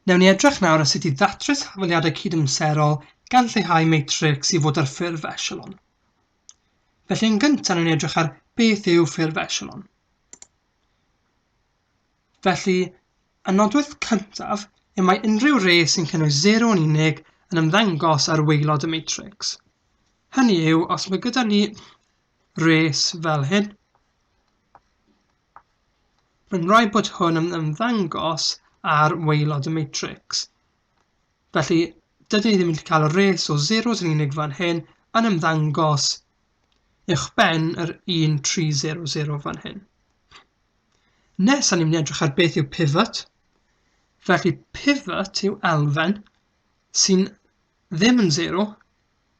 Wnewn ni edrych nawr ar sut i ddatrys hafaliadau cydamserol gan lleihau matrics i fod ar ffurf echelon. Felly yn gyntaf wnewn ni edrych ar beth yw ffurf echelon. Felly, y nodwedd cyntaf yw mae unrhyw res sy'n cynnwys 0 yn unig yn ymddangos ar waelod y matrix. Hynny yw, os mae gyda ni res fel hyn, Mae'n rhaid bod hwn yn ymddangos ar waelod y matrix. Felly, dydyn ni ddim yn cael y res o zeros yn unig fan hyn yn ymddangos uwchben yr 1300 fan hyn. Nes, ni'n mynd edrych ar beth yw pivot. Felly, pivot yw elfen sy'n ddim yn zero,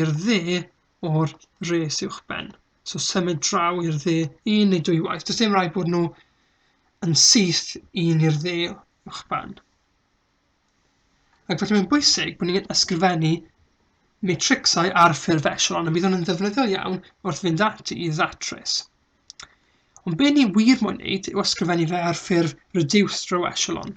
i'r dde o'r res uwchben. So symud draw i'r dde un neu dwy waith. Does dim rhaid bod nhw yn syth un i'r dde uwchben. Ac felly mae'n bwysig bod ni'n ysgrifennu matrixau ar ffurf echelon, a bydd hwn yn ddefnyddiol iawn wrth fynd ati i ddatrys. Ond be ni wir moyn wneud yw ysgrifennu fe ar ffurf reduced row echelon.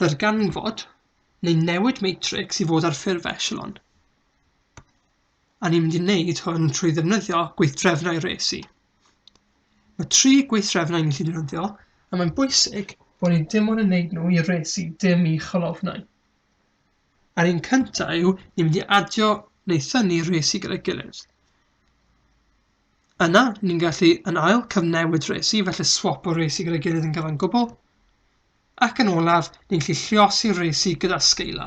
ddarganfod neu newid matrics i fod ar ffurf echelon. A ni'n mynd i wneud hwn trwy ddefnyddio gweithdrefnau resi. Mae tri gweithdrefnau ni'n gallu defnyddio, a mae'n bwysig bod ni dim ond yn wneud nhw i resi, dim i cholofnau. A'r un cyntaf yw ni'n mynd i adio neu thynnu resi gyda'i gilydd. Yna, ni'n gallu yn ail cyfnewid resi, felly swap o resi gyda'i gilydd yn gyfan gwbl, Ac yn olaf, ni'n gallu lluosi'r resi gyda Scala.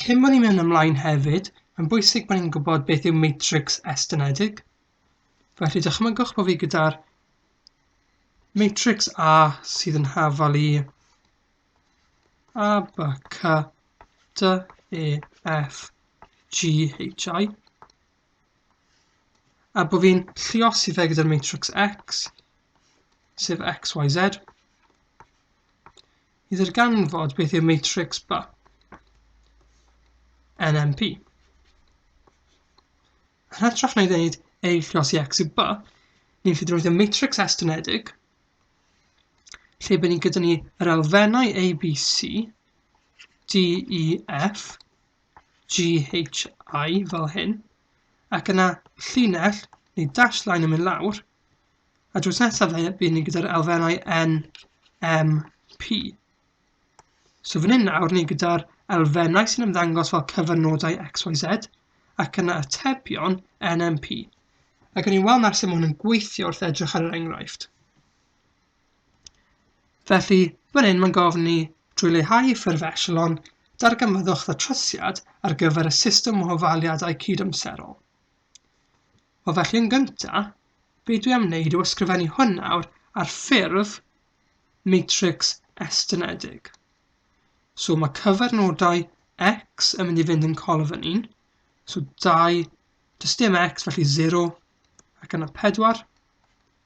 Cyn bod ni'n mynd ymlaen hefyd, mae'n bwysig bod ni'n gwybod beth yw matrix estynedig. Felly dychmygwch bod fi gyda'r matrix A sydd yn hafal i A, B, C, D, E, F, G, H, I. A bod fi'n llios i fe gyda'r matrix X, sef X, Y, Z, i ddarganfod beth yw matrix B, NMP. Yn hytrach na i ddeud ei llios i X i B, ni'n ffyd roedd y matrix estynedig, lle bydd ni gyda ni yr elfennau ABC, D, E, F, GHI fel hyn, ac yna llinell neu dash line yn mynd lawr, a drws nesaf bydd ni gyda'r elfennau N, M, P. So fan hyn nawr ni gyda'r elfennau sy'n ymddangos fel cyfynodau XYZ, ac yna atebion NMP. Ac yn ei weld nawr sut mae hwn yn gweithio wrth edrych ar yr enghraifft. Felly, fan hyn mae'n gofyn ni trwy leihau ffurf echelon, darganfyddwch ddatrysiad ar gyfer y system o ofaliadau cydamserol. Wel felly yn gyntaf, be dwi am wneud yw ysgrifennu hwn nawr ar ffurf matrix estynedig. So mae cyfernodau x yn mynd i fynd yn colofn 1, so 2, does dim x felly 0 ac yna 4,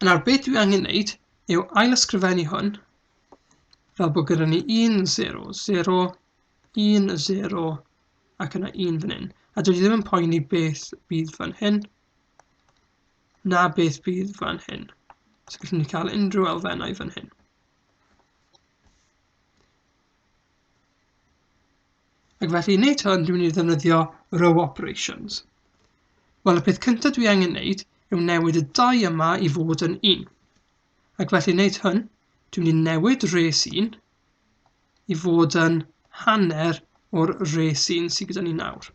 Yn nawr, beth dwi angen wneud yw ailysgrifennu hwn fel bod gyda ni 1, 0, 0, 1, 0 ac yna 1 fan hyn. A dwi ddim yn poeni beth bydd fan hyn na beth bydd fan hyn. So gallwn ni cael unrhyw elfennau fan hyn. Ac felly i wneud hwn, dwi'n mynd i ddefnyddio row operations. Wel, y peth cyntaf dwi angen wneud yw newid y dau yma i fod yn un. Ac felly i wneud hwn, dwi'n mynd i newid res 1 i fod yn hanner o'r res 1 sydd gyda ni nawr.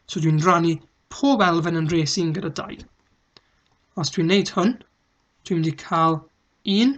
So dwi'n rannu pob elfen yn res 1 gyda 2. Os dwi'n wneud hwn, dwi'n mynd i cael 1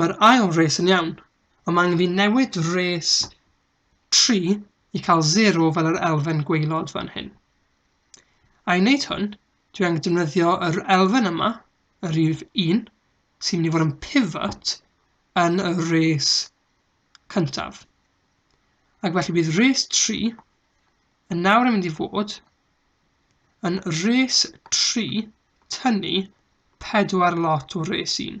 Mae'r ail res yn iawn, ond mae angen fi newid res 3 i cael 0 fel yr elfen gwaelod fan hyn. A i wneud hwn, dwi angen defnyddio yr elfen yma, y rif 1, sy'n mynd i fod yn pivot yn y res cyntaf. Ac felly bydd res 3 yn nawr yn mynd i fod yn res 3 tynnu 4 lot o res 1.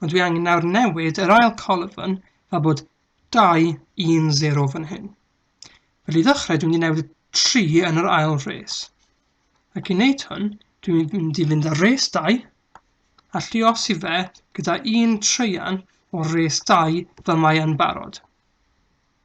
Ond dwi angen nawr newid yr ail colofn fel bod 2, 1, 0 fan hyn. Felly i ddechrau dwi'n mynd i newid y 3 yn yr ail res. Ac i wneud hwn, dwi'n mynd i fynd ar res 2 a lliosi fe gyda un treian o res 2 fel mae yn barod.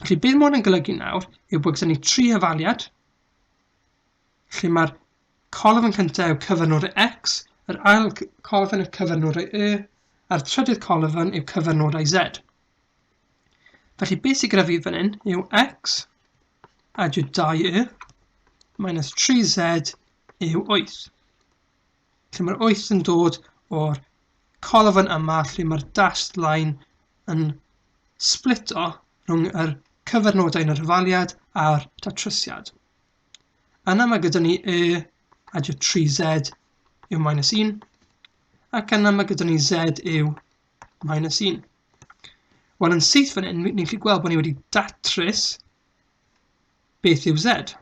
Felly beth mae hwn yn golygu nawr yw bod gyda ni tri hyfaliad lle mae'r colofn yn cyntaf yw cyfynwr X, yr ail colofn yw cyfynwr Y, a'r trydydd colofn yw cyfynwr Z. Felly beth sy'n gyda fi fan hyn yw X a yw 2Y minus 3Z yw 8. Lle mae'r 8 yn dod o'r colofn yma lle mae'r dashed line yn sblito rhwng yr cyfernodau yn yr hyfaliad a'r datrysiad. Yna mae gyda ni e adio 3z yw minus 1, ac yna mae gyda ni z yw minus 1. Wel, yn syth fan hyn, ni'n gallu gweld bod ni wedi datrys beth yw z.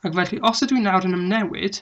Ac felly, os ydw i nawr yn ymnewid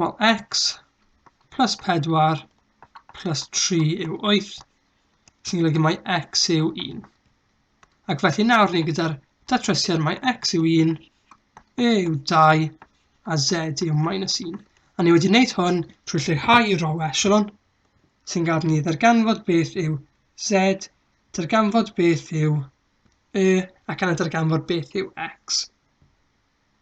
Wel, x plus 4 plus 3 yw 8, sy'n golygu mai x yw 1. Ac felly nawr ni gyda'r datrysiad mae x yw 1, e yw 2 a z yw minus 1. A ni wedi wneud hwn trwy lleihau i row echelon sy'n gad ni ddarganfod beth yw z, darganfod beth yw e ac yna darganfod beth yw x.